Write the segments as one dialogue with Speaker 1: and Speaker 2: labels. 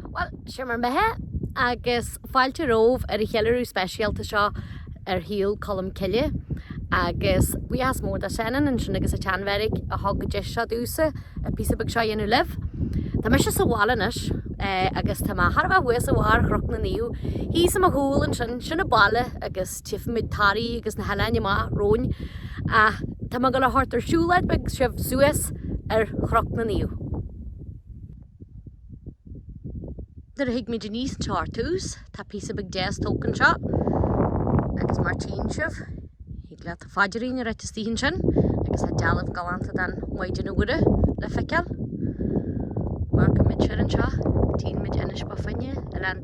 Speaker 1: Bhuel, sé bhur mbeatha, agus fáilte romhaibh ar an cheiliúradh speisialta seo ar shaol Colm Cille. Agus buíochas mór do Senan ansin agus an tSean-Bheairic a thug an deis seo domhsa an píosa beag seo a dhéanamh libh. Tá mise sa bhaile anois, agus tá mé thar a bheith thuas ar bharr Chnoc na Naomh, thíos ar mo chúl ansin, sin an baile agus. Tchífimid Toraigh agus na hoileáin amach romhainn ach tá mé ag gabháil a thabhairt ar siúlóid beag sibh suas ar Chnoc na Naomh. Nuair a thigmid aníos anseo ar tús tá píosa beag deas tógtha anseo agus mar tchíonn sibh thig leat do phaidirín a ráit istigh ansin agus tá dealbh galánta den Mhaighdean Mhuire le feiceáil. Amharcaimid siar anseo, tchímid Inis Bó Finne, oileán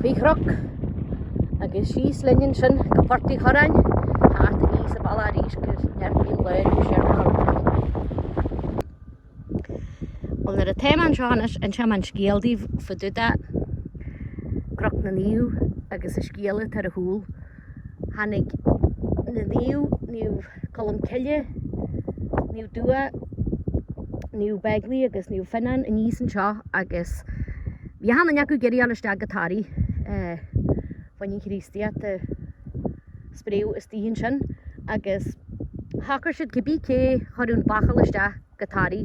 Speaker 1: Dúiche, croc agus síos linn ansin go Port Uí Churráin, thart aníos sa bhaile arís go ndeir Liam Laighin go siar go hAlbain. Bhuel, nuair atá mé anseo anois, inseoidh mé an scéal daoibh fá dtaobh de Croc na Naomh agus an scéal atá ar a chúl. tháinig Naomh, Naomh Colm Cille, Naomh Dubhthach, Naomh Begley agus Naomh Fionán aníos anseo agus bhí achan nduine acu ag iarraidh fháil isteach go Toraigh fá choinne an Chríostaíocht a spréadh istigh ansin agus shocair siad cibé cé chuir an bachall isteach go Toraigh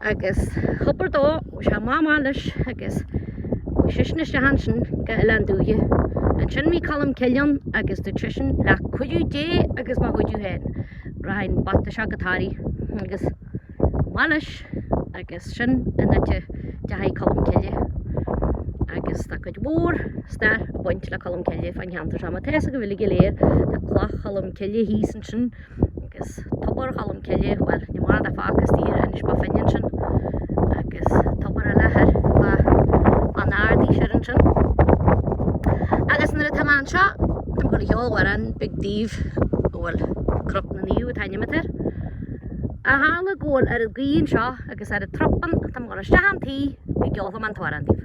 Speaker 1: Agus tobar dó bhí sé maith maith leis agus bhí sisean isteach ansin go Oileán Dúiche. Ansin bhí Colm Cille ann agus dúirt sisean le cuidiú Dé agus mo chuidiú féin rachaidh an bata seo go Toraigh agus amach leis agus sin an áit a dteachaidh Colm Cille agus tá cuid mhór stair ag baint le Colm Cille fán cheantar seo. Mar atá fhios agaibh uilig go léir tá cloch Cholm Cille thíos ansin. Agus tobar Cholm Cille, bhuel, ní maith a bheith fágtha as tír Inis Bó Finne ansin. Agus tobar eile thoir fá Bheann nAraidi siar ansin. Agus nuair atá mé anseo, táim ag dul a cheol amhrán beag daoibh a bhfuil Cnoc na Naomh ainmnithe ann. Ach tharla go bhfuil oiread gaoth anseo agus oiread trup ann, táim ag dul isteach chun tí go gceolfaidh mé an t-amhrán daoibh.